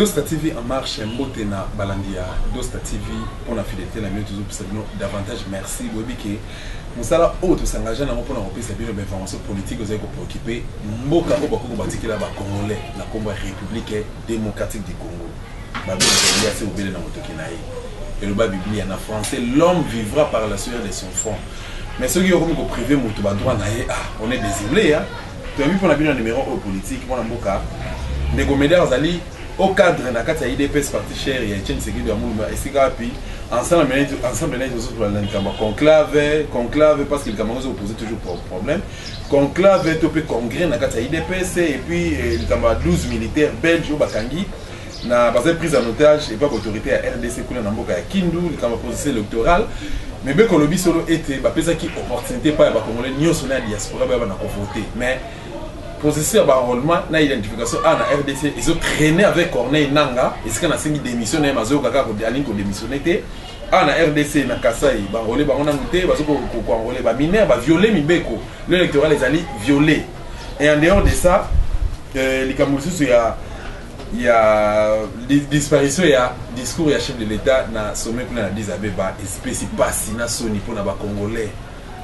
Dosta TV en marche mbote na balandi ya Dosta TV pona fidelite na bino tozo pesa bino davantage merci boyebi ke musala oyo to s'engage nango pona kopesa bino ba information politique ozali ko preoccuper mboka oyo bakoki kobatikela ba congolais na kombo ya Republique democratique du Congo babi ya se obele na motoki na ye eloba Biblia na français l'homme vivra par la sueur de son front mais soki okomi ko priver moto ba droit na ye ah on est désolé hein Toyebi pona bino numero oyo politique mwana mboka ndeko Medard azali au cadre na kati ya IDPS parti cher ya Etienne Sekido ya Mulumba esika wapi ensemble na yetu ensemble na yetu zozo la likambo conclave conclave parce que likambo zozo poser toujours pour problème conclave to pe congrès na kati ya IDPS et puis eh, likambo 12 militaires belges au bakangi na bazali prise en otage epai baautorité ya rdc kuna na mboka ya kindu likambo ya processus électoral mibeko olobi solo ete bapesaki opportunité epai ya bacongolais nyonso na ya diaspora bayaba na kovote mais processus ya baenrôlement na identification awa na rdc ezo traîne avec corneille nanga esika nasengi démission na ye mazoyoka kaka alingi kodémissionne te awa na rdc na kasai baenrôle bango nanu te bazokoenrôle baminere baviole mibeko le électoral ezali viole et en dehors de ça euh, likambo lisusu ya ya disparition ya discours ya chef de l'etat na sommet kuna na Addis Abeba espesi pasi na soni mpo na ba congolais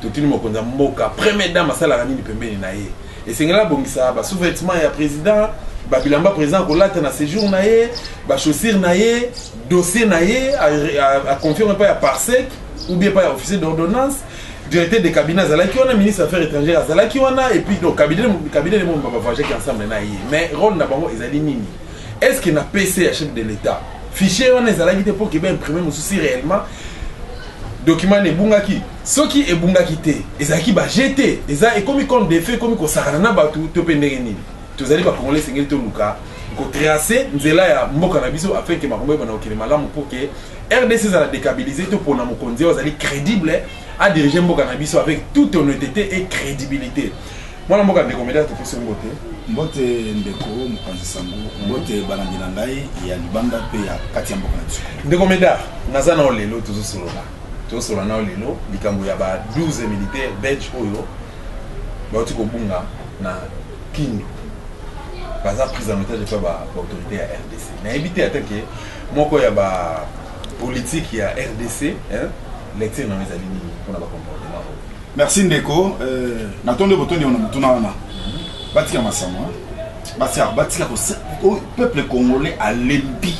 totuni mokonzi ya mboka première dame asalaka nini pembeni na ye esengeli abongisa ba sous-vêtements ya président ba bilamba président akolata na séjour na ye ba chaussures na ye dossier na ye a confirme epai ya parsec ou bien epai ya officier d'ordonnance directeur de cabinet azalaki wana ministre affaires étrangères azalaki wana et puis donc cabinet cabinet nemo ba voyageaki ensemble na ye mais rôle na bango ezali nini est ce que na pc ya chef de l'état fichier wana ezalaki te mpo keba imprime mosusi réellement document na ebungaki soki ebungaki te ezalaki baje te eza ekomi compte de fait ekomi kosakana na bato to mpe ndenge nini tozali bakongole esengeli toluka kotrace nzela ya mboka na biso afin ke makambo ebana kokende malamu mpo ke rdc ezala decabilise to pona mokonzi oyo azali credible a dirige mboka na biso avec toute honnêteté et crédibilité mwana mboka ndeko medea topesi mbote mbote ndeko mokonzi sango mbote balandi na ngai ya libanda mpe ya kati ya mboka na biso ndeko medea naza nao lelo tozosolola tozosolola nao lelo likambo ya ba 12 militaire belge oyo bauti kobunga na kindu baza prise en otage epai baautorité ya rdc nayebi te ata ke Moko ya ba politique ya rdc hein? lecture na ezali nini pona ba comportement oyo merci ndeko euh, natondi botondi wana motuna wana batika masama batika batika oh, peuple congolais alembi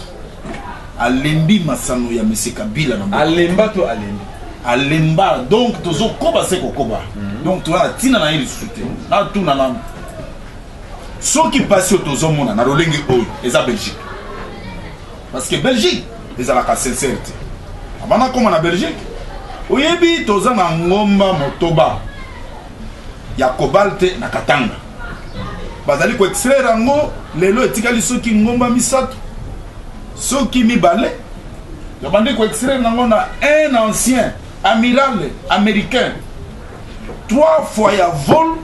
alembi masano ya monsieur kabila na alemba to alembi alemba donc tozokoba se kokoba mhm. donc toya na ntina na ye lisusu te natuna nanu soki pasi oyo tozomona na lolenge oyo eza belgique parce que belgique ezalaka sincere te abana akoma na belgique oyebi toza na ngomba motoba ya cobalte na katanga bazali koextraire yango lelo etikali soki ngomba misato soki mibale yabandi koextraire yango na un ancien amiral américain 3 fois ya vol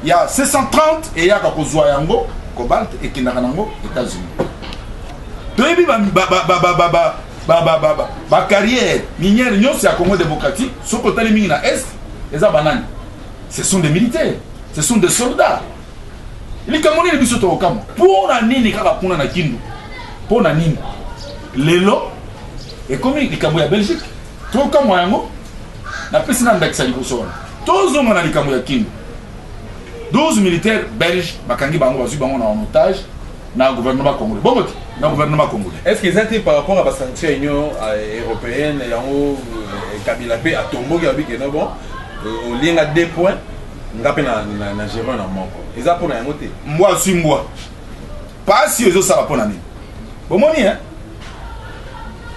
ya 630 eyaka kozwa yango cobalt ekendaka nango états-unis toyebi bacarrière minière nyonso ya congo démocratique soki otali mingi na est eza banani ce sont des militaires ce sont des soldats likambo nini biso tokokamwa mpo na nini kaka kuna na kindu mpo na nini lelo ekomi likambo ya belgique Tokamwa yango napesi na ndakisa liboso wana. Tozonga na likambo ya Kindu. 12 militaires belges bakangi bango bazwi bango na en otage na gouvernement congolais. Bongo te na gouvernement congolais. Est-ce que eza te par rapport à ba sanctions ya Union euh, européenne yango euh, Kabila pe atomboki abi que non bon euh, olinga deux points nga pe na na, na Jérôme na moko. Eza pona yango te. Mbwa aswi mbwa. Pasi oyo ezosala mpo na nini? Bomoni hein?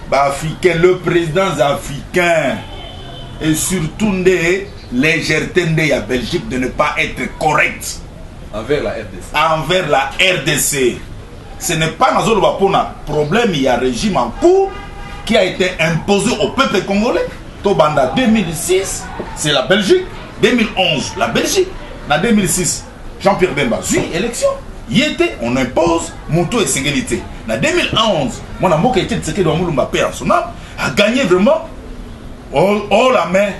Ba africain, le président africain et surtout nde légèreté nde ya Belgique de ne pas être correct envers la RDC. Envers la RDC. Ce n'est pas nazoloba mpo na problème ya régime en cours qui a été imposé au peuple congolais tobanda 2006 c'est la Belgique 2011 la Belgique na 2006 Jean Pierre Bemba azui election ye te on impose moto esengeli te na 2011 mwana mboka ete tshisekedi wa mulumba pe asona aganye vraiment o la main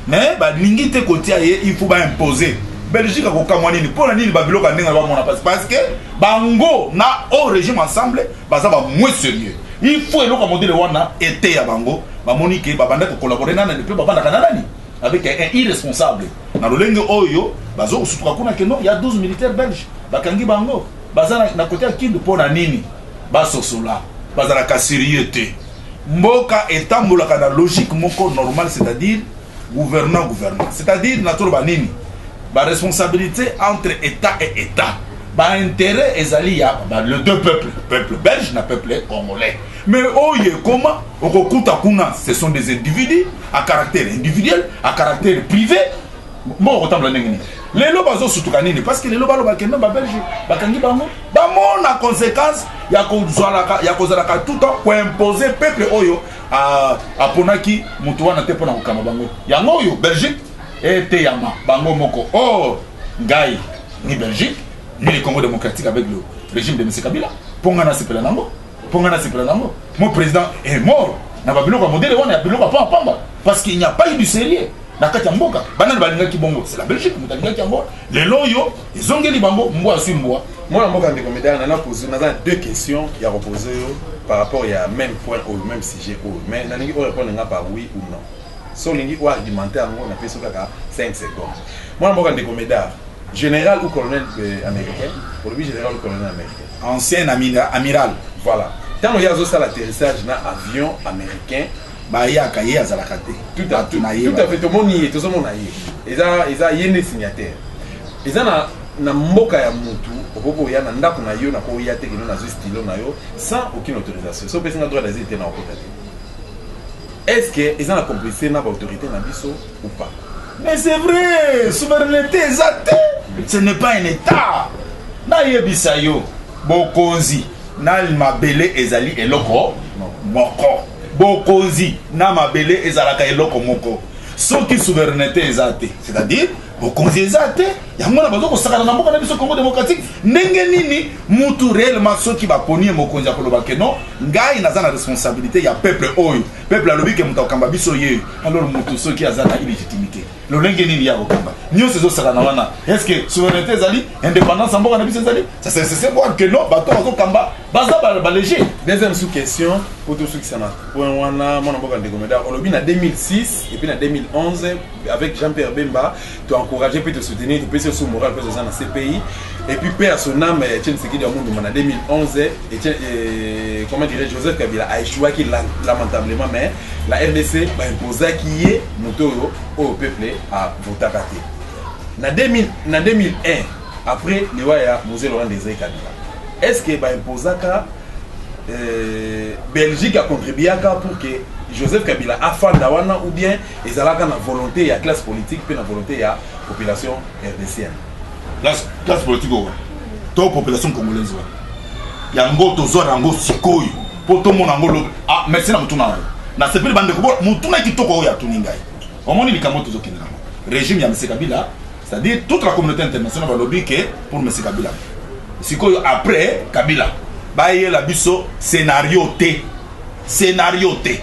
mais balingi te kotia ye il faut baimpose belgique akokamwa nini mpo na nini babiloko ya ndenge na bamona mpasi parce que bango na o régime ensemble baza bamwe sérieux il faut eloko ya modele wana eteya bango bamoni ke babandaki kokolabore na nani mpe babandaka na nani avec un irresponsable na lolenge oyo bazo kosutuka kuna ke non ya 12 militaire belge bakangi bango baza na kote ya kindu mpo na nini basosola bazalaka serieux te mboka etambolaka na logique moko normale c'est-à-dire gouvernant gouvernant c'est-à-dire na toloba nini baresponsabilité entre état et état baintérêt ezali ya le deux peuple peuple belge na peuple congolais Mais oye comment okokuta kuna ce sont des individus à caractère individuel, à caractère privé. Bon, autant la nini. Lelo bazo sutuka nini parce que lelo balo bakenda ba Belge bakangi bango bamona conséquence ya kozalaka ya kozalaka tout temps ko imposer peuple oyo aponaki moto wana te mpona kokamba bango yango oyo Belgique eteyama bango moko or ngai ni Belgique ni le Congo démocratique avec le régime de M. Kabila mpo ngai nasepela nango mpo ngai nasepela nango mo président est mort na babiloko ya modele wana ya biloko ya pamba pamba parce qu'il n'y a pas eu du sérieux na kati ya mboka banani balingaki bongo c'est la belgique moto alingaki yango lelo oyo ezongeli bango mbwa aswi mbwa mwana mboka ndeko medal nana pozu naza na deux questions ya kopose yo par rapport ya même point oyo même sujet oyo mais nalingi orépondre nga par oui ou non so olingi oargumente yango napesi kaka 5 secondes mwana mboka ndeko medar général ou colonel euh, américain olobi général ou colonel américain Ancien amiral voilà tango ye azo sala atterrissage na avion americain bayaka ye azalaka te tout à tout à fait tomoni ye tozo mona ye eza eza ye nde signataire eza na na mboka ya mutu okoki koya na ndako na yo nakoya te kino nazwi stylo na yo sans aucune autorisation so opesi nga droit d'asile te na okota te est ce que eza na complicité na baautorité na biso ou pas mais c'est vrai souveraineté eza te ce n'est pas un état nayebisa yo bokonzi na mabele ezali eloko moko bokonzi na mabele ezalaka eloko moko soki souveraineté eza te c'est-à-dire bokonzi eza te yango wana bazo kosakana na mboka na biso congo démocratique ndenge nini mutu réellement soki baponi ye mokonzi ya koloba ke non ngai naza na responsabilité ya peuple oyo peuple alobi ke moto akamba biso ye alors moto soki aza na illegitimité lolenge nini ya kokamba nyonso ezosakana wana est ce que souveraineté ezali indépendance ya mboka na biso ezali c'est voir que non bato bazokamba baza balege deuxième sous question po tosukisa na point wana mwana mboka ndeko meda olobi na 2006 epuis na 2011 avec jean pierre bemba to encourager puis to soutenir topesi yo sous morale mpe oza na cpi et puis paix à son âme eh, etienne sekidi ya munduma na 2011 eh, etienne eh, comment dirais joseph kabila a échouaki lamentablement mais la rdc baimposaki ye moto oyo oyo peuple avotaka te na 2000 na 2001 après liwa ya mose laurent desai kabila est ce que baimposaka euh, belgique acontribuaka pour que joseph kabila afanda wana ou bien Ezalaka na volonte ya classe politique pe na volonte ya population rdcienne. Classe, classe politique oyo to population congolaise wana yango tozwa na yango sikoyo mpo tomona yango lobi ah, merci na motuna na yo nasepeli bandeko bo motuna kitoko oyo atuni ngai omoni likambo tozokende nango régime ya mese kabila c'est-à-dire toute la communauté internationale balobi ke pour mese kabila sikoyo après kabila bayela biso scénario te scénario te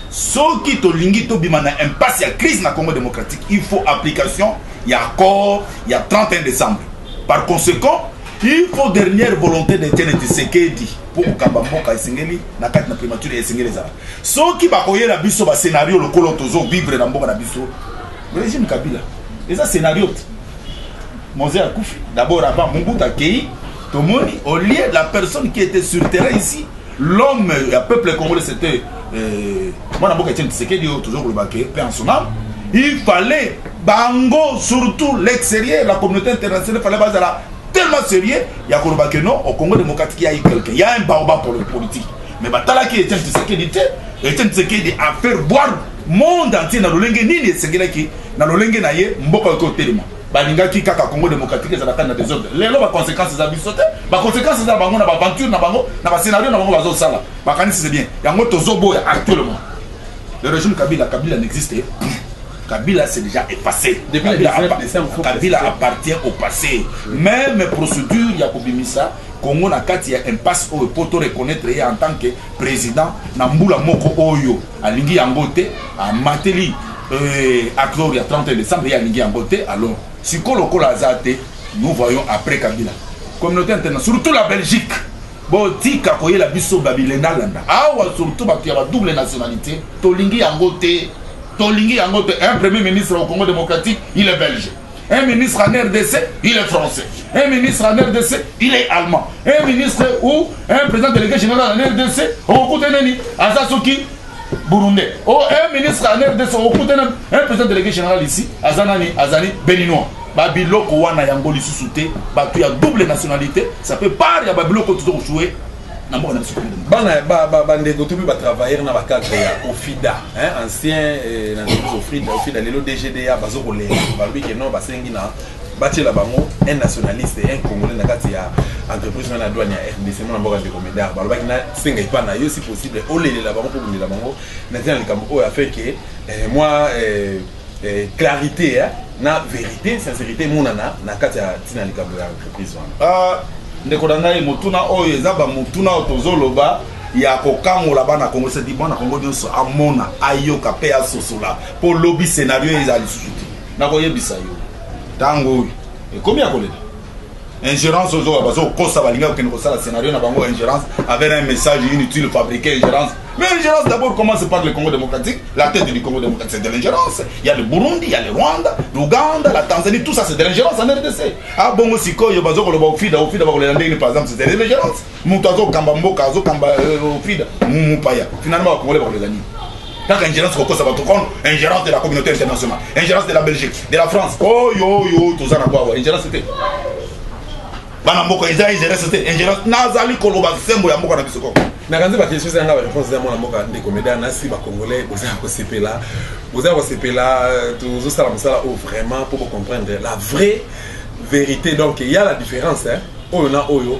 soki tolingi tobima na impasse ya crise na congo démocratique il faut application ya accord ya 31 décembre par conséquent il faut dernière volonté de tiene tisekedi mpo kokamba mboka esengeli na kati na primature esengeli ezala soki bakoyela biso bascenario lokolo tozo vivre na mboka na biso régime kabila eza scénario te moze akufi d'abord avant mobutu akei tomoni au lieu la personne qui était sur terrain ici l'homme ya peuple congolais c'était euh, mwana mboka etienne tisekedi oyo tozo koloba ke pe en sonam il fallait bango surtout l'extérieur la communauté internationale fallait bazala tellement sérieux ya koloba ke non au congo démocratique ya quelqu'un ya un baoba pour le politique mais batalaki etienne tisekedi te etienne tisekedi a faire boire monde entier na lolenge nini esengelaki na lolenge na ye mboka okotelema balingaki kaka congo démocratique ezala kani na desordre lelo baconséquence eza biso te baconséquence eza bango na baaventure na bango na bascenario na bango bazosala bakanisi se bien yango tozoboya actuellement le régime kabila kabila n'existe Kabila c'est déjà effacé. Depuis Kabila, le 19 décembre, Kabila appartient au passé. Oui. Même procédure ya kobimisa Congo na kati ya impasse oyo po to reconnaître ye en tant que président na mbula moko oyo alingi yango te amateli euh, accord ya 31 décembre ye alingi yango te alors sikoyo lokola aza te nous voyons après kabila communauté internationale surtout la belgique botika koyela biso babilena landa awa surtout bato ya badouble nationalité tolingi yango te tolingi yango te un premier ministre au congo démocratique il est belge Un ministre en RDC, il est français. Un ministre en RDC, il est allemand. Un ministre ou un président délégué général en RDC, okuta nani aza soki burundais. Oh, un ministre en RDC, okuta nani un président délégué général ici, aza nani azali béninois. Babiloko wana yango lisusu te, batu ya double nationalité, ça peut pas ya babiloko tuzo jouer na mboka na biso Congo démocratique. Bana ba ba ba ndeko to pe ba travailleurs na ba cadres ya Ofida, hein, ancien eh, na nzela Ofida, Ofida lelo DGDA bazo kolela. Balobi que non basengi na batiela bango un nationaliste un congolais na kati ya entreprise wana ya douane ya rdc mwana mboka ndeko medar balobaki nasenga epa na yo si possible olelela bango mpo obundela bango na ntina likambo oyo afin ke eh, mwa eh, eh, clarité eh, na vérité sincérité emonana na kati ya ntina likambo ya entreprise wana ah, ndeko na ngai motuna oyo eza bamotuna oyo tozoloba ya kokangola bana kongo sedi mwana kongo nyonso amona ayoka mpe asosola mpo lobi scenario eza lisusu te nakoyebisa yo ntango oyo ekomi ya kolela ingérence ozoka bazokosa balinga kokende kosala scénario na bango ingérence avec un message inutile fabriqué ingérence mais ingérence d'abord commence par le congo démocratique la tête du congo démocratique c'est de l'ingérence il y a le burundi il y a le rwanda l'ouganda la tanzanie tout ça c'est de l'ingérence en rdc abongo ah, sikoyo bazokoloba ofida ofida bakolela ndenge par exemple c'est de l'ingérence moto azokamba mboka azokamba ofida euh, mupaya finalement bakongole bakolela nini kaka ingérence kokosa bato kono ingérence de la communauté internationale ingérence de la belgique de la france oyo oh, oyo oh, toza na kwawa ingérence te bana mboka eza ingérence te ingérence nazali koloba sembo ya mboka na biso koko nakanzi bakestion eza yanga bareponse ya mwana mboka ndeko meda nasi bacongolais boza ya kosepela boza ya kosepela euh, tozosala mosala oyo vraiment mpo bocomprendre la vraie vérité donc ya la différence oyo na oyo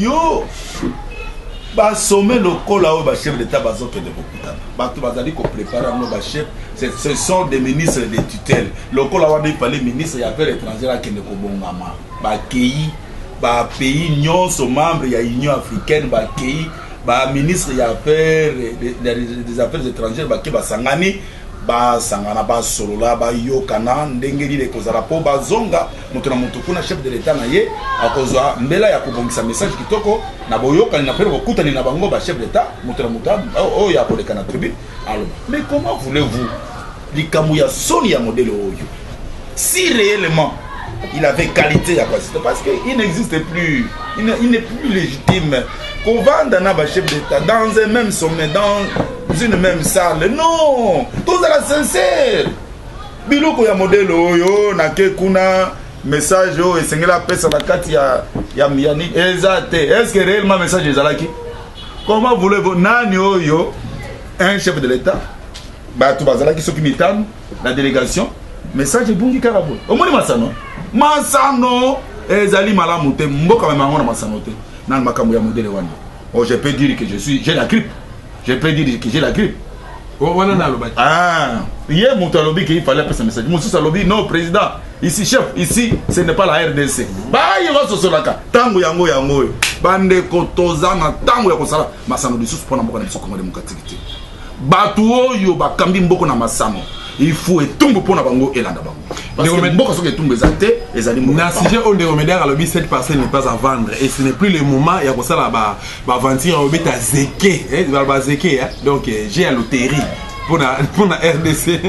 yo basome lokola oyo bachef d'état bazokende kokutana bato bazali koprépare yango bachef ce sont des ministres de tutelle lokola wana epale ministre ya affaire étrangère akende kobongama bakei bapays nyonso membre ya union africaine bakei baministre ya affaire des affaires étrangères bake basangani basangana basolola bayokana ndenge nini ekozala mpo bazonga moto na moto kuna chef de l'etat na ye akozwa mbela ya kobongisa message kitoko na boyokani na mpe bokutani na bango bachef d'etat moto na moto oh, oyo akoleka na tribune aloba mais comment voulez-vous likambo ya soni ya modele oyo si réellement il avait qualité ya pasito parce que il n'existe plus il n'est plus légitime kovanda na bachef d'état dans un même sommet dans une même salle non tozala sincère biloko ya modele oyo nake kuna message oyo esengeli apesa na kati ya, ya, ya nini eza te estce réellement message ezalaki comment voulez-vous nani oyo un chef de l'état bato bazalaki soki mitano na délégation message ebungi kaka boye omoni masano masano ezali malamu te mboka mema yango na masano te nani makambo ya modele wana oh, je peux dire que je suis je la grippe je peux dire que j'ai la grippe wana na alobaki ah ye moto alobi ke ifale apesa message mosusu alobi non président ici chef ici ce n'est pas la rdc baye basosolaka ntango yango yango oyo bandeko toza na ntango ya kosala masano lisusu mpo na mboka na biso kongo demokratiki te bato oyo bakambi mboko na masano ifu etumbu mpo na bango elanda bango mboka soki etumbu eza te ezali na sujet oyo ndeko mediaka alobi cette parcelle n'est pas à vendre et ce n'est plus le moment ya kosala ba baventure ya kobeta zeke eh, baloba zeke eh. donc eh, je ya loterie mpona rdc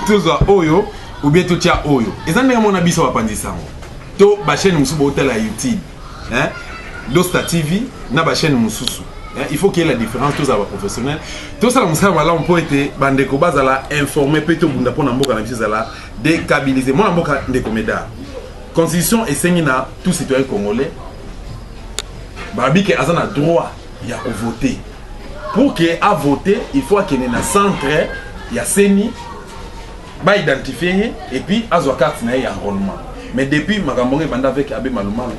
tozwa oyo obie totya oyo eza ndenge mona biso bapanzi sango to bachaîne mosusu bootala ya youtube hein? dosta tv na bachaîne mosusu il faut qu'il y ait la différence tozala baprofessionnel tosala mosala malamu mpo ete bandeko bazala informe mpe tobunda mpo na mboka na biso ezala décabilise mwana mboka ndeko meda constitution esengi na tout citoyen congolais balobi ke aza na droit ya kovote pour ke avote il faut akende na centre ya seni baidentifie ye epuis azwa karte na ye ya enrôlement mais depuis makambo yango ebanda avec abe malumalu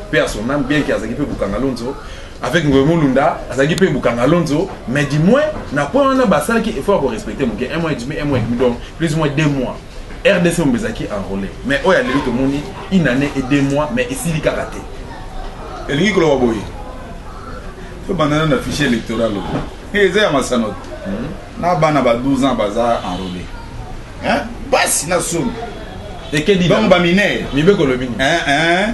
mpe ya son ame bien ke azalaki mpe bukanga lonzo avec ngoye molunda azalaki mpe bukanga lonzo mais du moins na point wana basalaki effort ya korespecte moke un mois et demi un mois et demi donc plus ou moins deux mois Rdc mobimba ezalaki enrole mais oyo ya lelo tomoni une année et deux mois mais esili kaka te elingi koloba boye tobandana na fichier électoral oyo eh, eza ya masano te hmm. na bana ba 12 ans baza enrole basi na soni bango baminere mibeko olobi nini eh, eh.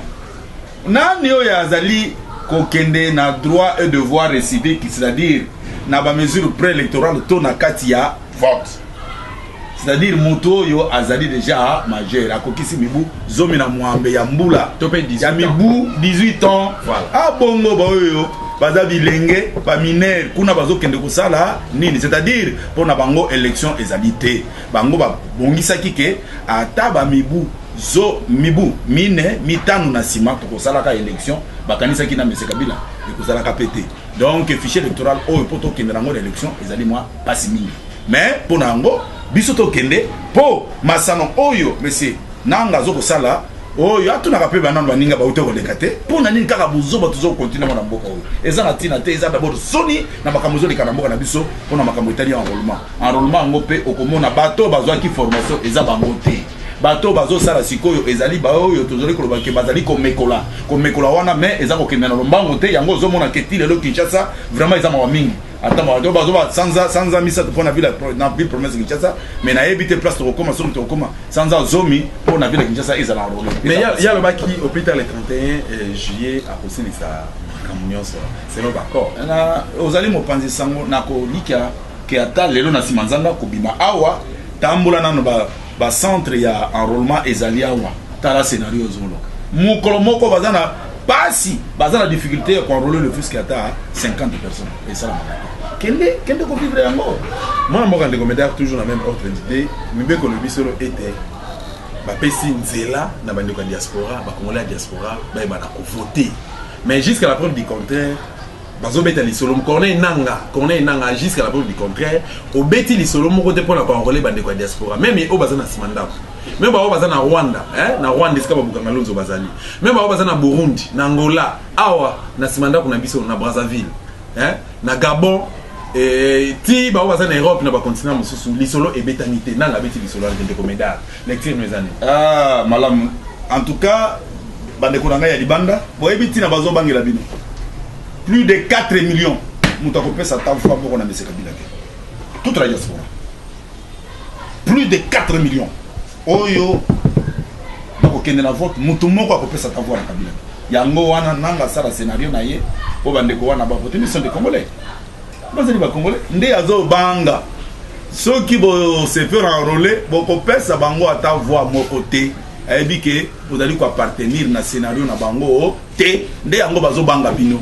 nani oyo azali kokende na droit et devoir récivique c'est-à-dire na bamesure préélectorale to na kati ya vote c'est-à-dire moto oyo azali deja majeur akokisi mibu zomi na mwambe ya mbula to mpe ya mibu 18 ans voilà. abongo ah, baoyo baza bilenge baminere kuna bazokende kosala nini c'est-à-dire mpo na bango élection ezali te bango babongisaki ke ata bamibu zo mibu mine mitano na nsima tokosalaka élection bakanisaki na mese kabila ekosalaka mpe te donc fichier électoral oyo mpo tokendela yango na élection ezali mwa mpasi mingi mais mpo na yango biso tokende mpo masano oyo monsieur nanga azokosala oyo atunaka mpe banano baninga bauta koleka te mpo na nini kaka bozoba tozokontinue yango na mboka oyo eza na ntina te eza dabord soni na makambo ezoleka na mboka na biso mpo na makambo etali enrollement enrollement yango mpe okomona bato bazwaki formation eza bango te Bato oyo bazosala sikoyo ezali baoyo tozali koloba ke bazali komekola komekola wana me eza kokende na lombango te yango ozomona ke ti lelo kinshasa vraiment eza mawa mingi ata mawa bazoba sanza sanza misato mpo na ville na ville province kinshasa me nayebi te place tokokoma soki tokokoma sanza zomi mpo na ville kinshasa ezala na role mais ye alobaki hôpital le 31 euh, juillet akosilisa makambo nyonso selon baccord ozali mopanzi sango nakolikya ke ata lelo na nsima nzanga kobima awa tambola nano ba centre ya enrôlement ezali awa tala scenario ozoloka mokolo moko baza na pasi baza na difficulté ya koenrole le fils ata 50 personnes esalamaka kende kende kovivre yango mwana mboka ndeko medar toujours na même ordre d'idée mibeko lobi solo ete bapesi nzela na bandeko ya diaspora bakongole ya diaspora bayebana kovote mais jusqu'à la preuve du contraire bazobeta lisolo corneille nanga corneille nanga jusqu'à la preuve du contraire obeti lisolo moko te mpo na koenrole bandeko ya diaspora meme oyo baza na nsima ndako meme baoyo baza na rwanda eh? na rwanda esika babukanga lonzo bazali meme baoyo baza na burundi na angola awa na nsima ndako na biso na brazzaville eh? na gabon eh, ti baoyo baza na europe na bacontinent mosusu lisolo ebetami te nanga abeti lisolo ante ndeko medard Lecture mes amis. Ah, malamu. En tout cas, bandeko na ngai ya libanda, boyebi ntina bazobangela bino. Plus de 4 millions moto akopesa ta fois moko na mese kabila te. Toute la diaspora. Plus de 4 millions. Oyo bakokende na vote, moto moko akopesa ta voix na kabila te. Yango wana nanga sala scenario na ye, po bandeko wana bakote miso nde congolais. bazali ba congolais nde azobanga soki bosefer enrole bokopesa bango ata voi moko te ayebi ke bozali koappartenir na scenario na bango te nde yango bazobanga bino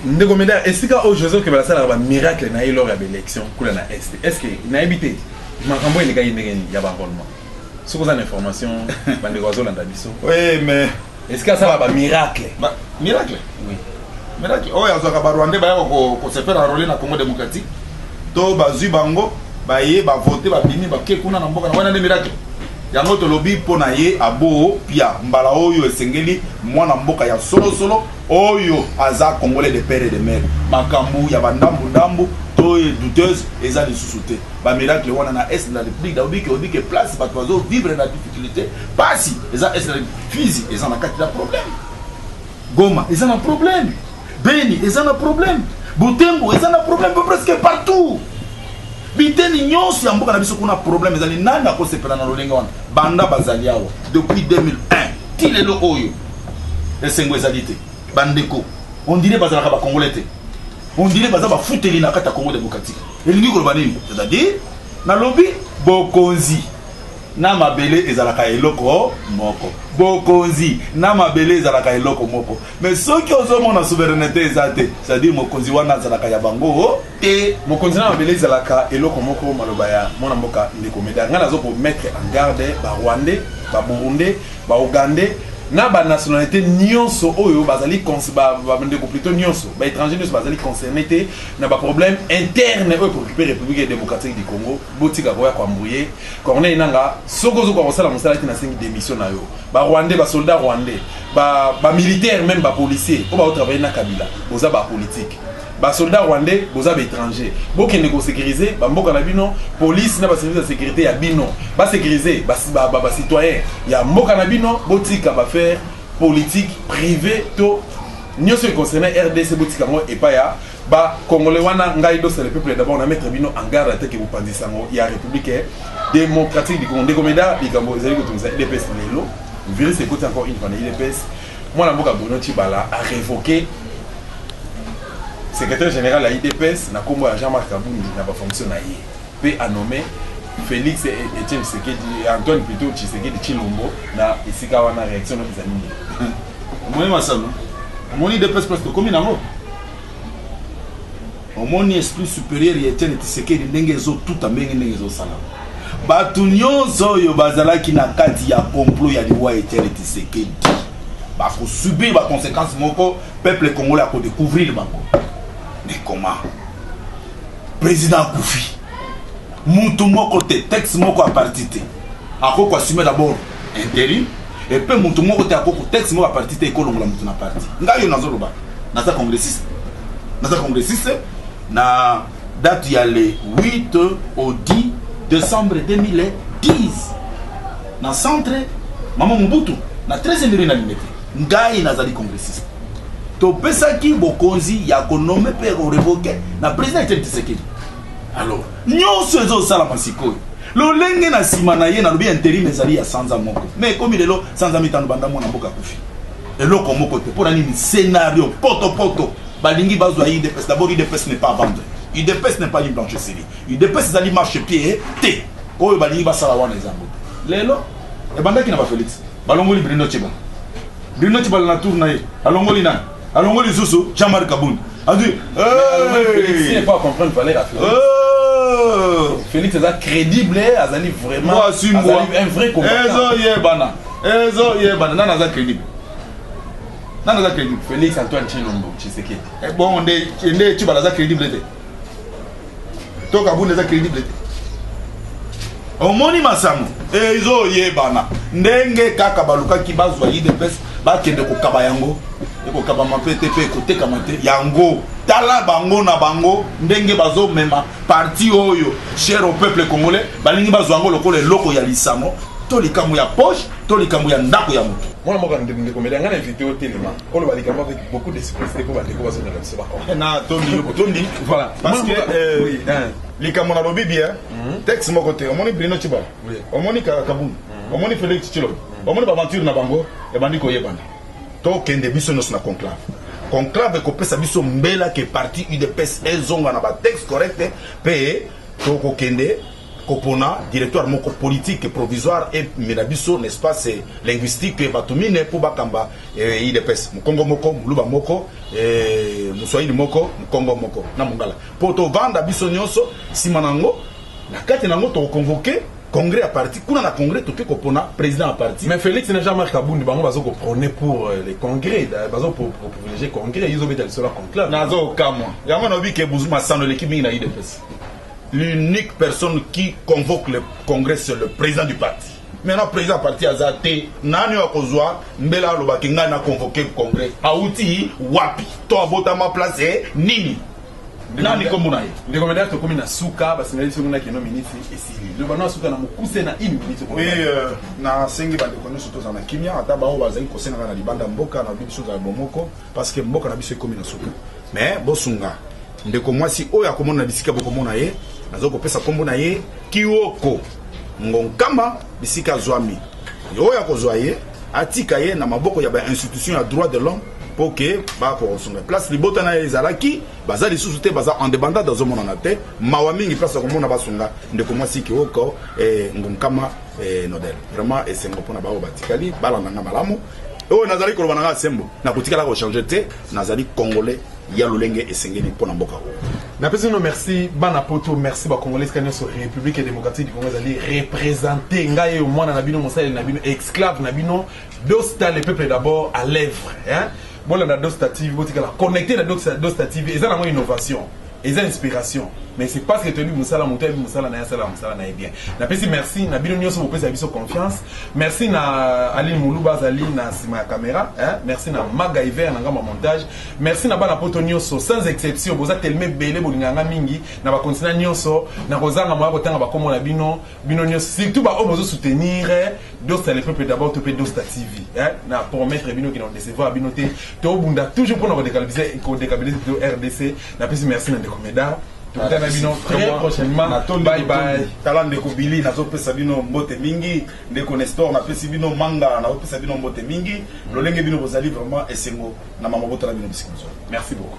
ndeko meda esika oyo joseph kebela asalaka bamiracle na ye lors ya baélection kula na est est ce que nayebi te makambo elekaki ndenge nini ya baenrollement soki oza na information bandeko bazolanda biso oui mais Est-ce que asala ba miracle? Ba miracle? Oui. Miracle oyo azwaka ba Rwandais baya ko ko se faire enrôler na Congo démocratique. To bazwi bango baye ba voter ba bimi ba ke kuna na mboka na wana nde miracle. Yango tolobi mpo na ye abo pia mbala oyo esengeli mwana mboka ya solo solo oyo aza congolais de père et de mère. Makambo ya ba ndambu ndambu to douteuse eza lisusu te. Ba miracle wana na est de la République, daobi ke obi ke place bato bazo vivre na difficulté Pasi eza est Fizi eza na kati na problème. Goma eza na problème. Beni eza na problème. Butembo eza na problème presque partout. biteni nyonso ya mboka na biso kuna problème ezali nani akosepela na lolenge wana banda bazali awa depuis 2001 ti lelo oyo esengo ezali te bandeko ondire bazalaka bakongole te ondire baza bafuteli na kati ya congo démocratique elingi koloba nini c'est-à-dire nalobi bokonzi Na mabele ezalaka eloko moko. Bokonzi na mabele ezalaka eloko moko. Mais soki ozo mona souverainete eza te, c'est à dire mokonzi wana azalaka ya bango te. Mokonzi na mabele ezalaka eloko moko, maloba ya mwana mboka ndeko Medard. Nga nazo ko mettre en garde ba Rwandais, ba Burundais, ba Ougandais na ba nationalites nionso oyo bazali ba ndeko plutot nionso, ba etrangers nionso bazali concernes te na ba problèmes internes oyo e preoccuper Republique democratique du Congo. Botika koya ko embrouiller Corneille nanga soki ozokoka kosala mosala te nasengi démission na yo ba rwandais ba soldats rwandais ba ba militaires même ba policiers oyo bao travailler na Kabila boza ba politique ba soldats rwandais boza ba étrangers bokende ko sécuriser ba mboka na bino police na ba services ya sécurité ya bino ba sécuriser ba ba, ba, ba citoyens ya mboka na bino botika ba faire politique privée to nioso e concerne RDC botika ngo epa ya Ba congolais wana ngai dosa le peuple d'abord na mettre bino en garde ateke bopanzi sango ya république démocratique du Congo ndeko meda likambo ezali kotungisa UDPS lelo virus ekoti encore une fois na UDPS mwana mboka Bruno Tshibala a révoqué secrétaire général ya UDPS na kombo ya Jean-Marc Kabundi na ba fonction na ye pe a nommé Félix et Etienne Tshisekedi Antoine plutôt Tshisekedi Chilombo na esika wana réaction na bizali omoni masano omoni dps place tokomi nango omoni esprit supérieur ya etienne tisekedi ndenge ezotuta ndenge ndenge ezosala bato nyonso oyo bazalaki na kati ya complot ya liwa etienne tisekedi bakosubir baconséquence moko peuple congolais akodécouvrir bango mais comment président akufi mutu moko te texte moko aparti te akoki koassume d'abord intérim epe moto moko te akoko texte moko ya parti te ekolongola moto na parti ngai yo nazoloba naza congressiste naza congressiste na date ya le 8 au 10 décembre 2010 na centre mama mobutu na 13 ndenge na limete ngai nazali congressiste topesaki bokonzi ya konome mpe ya korevoke na président etienne tshisekedi Alors, nyonso ezosalama sikoyo lolenge na nsima na ye nalobi interim ezali ya sanza moko me ekomi lelo sanza mitano banda mwana mboka akufi eloko moko te mpo na nini scenario potopoto balingi bazwa udps dabord udps ne pas vendre udps ne pas une blanche sili udps ezali marche pied te oyo balingi basala wana ezango lelo ebandaki na bafelix balongoli brino ciba brino ciba na tour na ye alongoli nani alongoli lisusu jean-marc kabund azwi félix aza crédible azali vraiment azali un vrai combattant ezoyebana ezoyebana nani aza crédible nani aza crédible félix antoine chilombo tshisekedi eh, bongo nde nde tshibala aza crédible te to kabunda eza credible te omoni masango ezoyebana ndenge kaka balukaki bazwa idps bakende kokaba yango ekokabama mpe te mpe ekotekama te yango tala bango na bango ndenge bazomema parti oyo cher au peuple congolais balingi bazwa yango lokola eloko ya lisano to likambo ya poche to likambo ya ndako ya moto mwana moko ndeko mele anga na invité otelema koloba likambo avec beaucoup d'esprit te mpo bandeko bazongela biso bakombe na tondi yo botondi voilà parce que euh, hein. likambo nalobi bien mhm. texte moko te omoni brino ciba omoni kabund mhm. omoni félix cilom mhm. omoni baaventure na bango ebandi koyebana tokende biso nyonso na conclave conclave ekopesa biso mbela ke parti udps ezonga na batexte correcte mpe tokokende kopona directoire moko politique provisoire emela biso na espace linguistique bato mine mpo bakamba eh, idps mokongo moko moluba moko eh, moswahili moko mokongo moko na mongala mpo tovanda biso nyonso nsima na yango na kati na yango tokoconvoke congrès ya parti kuna na congrès toke kopona président ya parti mais félix na jean marc abundi bango bazo koprone pour euh, le congrès bazo privilégie congrès izobeta lisolo ya conclave nazokamwa yango naobi ke masano eleki mingi na idps L'unique personne qui convoque le congrès c'est le president du parti. Maintenant president ya parti aza te, nani oyo akozwa mbela aloba ke ngai na convoque congrès? Awuti wapi? To abotama place nini? nani kombo na ye ndeko medar tokomi na suka basengeli biso kuna keno miniti esili loba no asuka na mokuse na une minute oui euh, nasengi bandeko nyonso tozala na kimia ata baoyo bazali kosengaka na libanda mboka na biso ozala bomoko parce que mboka na biso ekomi na suka mais bosunga ndeko mwasi oyo akomona na bisika bokomona ye nazo kopesa nkombo na ye kioko ngonkama bisika azwami oyo akozwa ye atika ye na maboko ya bainstitution ya droit de l'homme mpo ke bakosunga place libota na ye ezalaki baza lisusu te baza independant azomonana te mawa mingi place akomona basunga ndeko mwasi kioko eh, ngonkama eh, nodel vraiment esengo mpo na baoyo batikali balanda nga malamu oyo nazali koloba na ngai sembo nakotikala kochange te nazali congolais ya lolenge esengeli mpo na mboka oyo napesi bino merci bana poto merci bacongolais esika nyonso république ya démocratique du congo ezali représente ngai eyo mwana na bino mosaleli na bino esclave na bino dosta le peuple d'abord à lèvre bolanda dosta tv botikala connecte na dosta tv eza nango innovation eza inspiration mais c'est parce que toyebi mosala moto ayebi mosala na ye asalaka mosala na ye bien napesi merci na bino nyonso bopesaka biso confiance merci na euh, aline moluba azali na nsima ya caméra hein? merci na magaiver na ngambo ya montage merci na bana poto nyonso sans exception boza telema ebele bolingaka nga mingi na bakontina nyonso na kozanga moya kotanga bakomo na bino bino nionso surtout ba oyo bozo soutenir eh, dosta le peuple d'abord to pe dosta tv hein na promettre bino que na décevoir bino te to bunda toujours pour na décabiliser ko décabiliser de RDC na pesi merci na ndeko Medard tokutana bino très prochainement bye bye tala ndeko Billy nazopesa bino mbote mingi ndeko Nestor napesi bino manga nazopesa bino mbote mingi lolenge bino bozali vraiment esengo na mama botala bino bisika merci beaucoup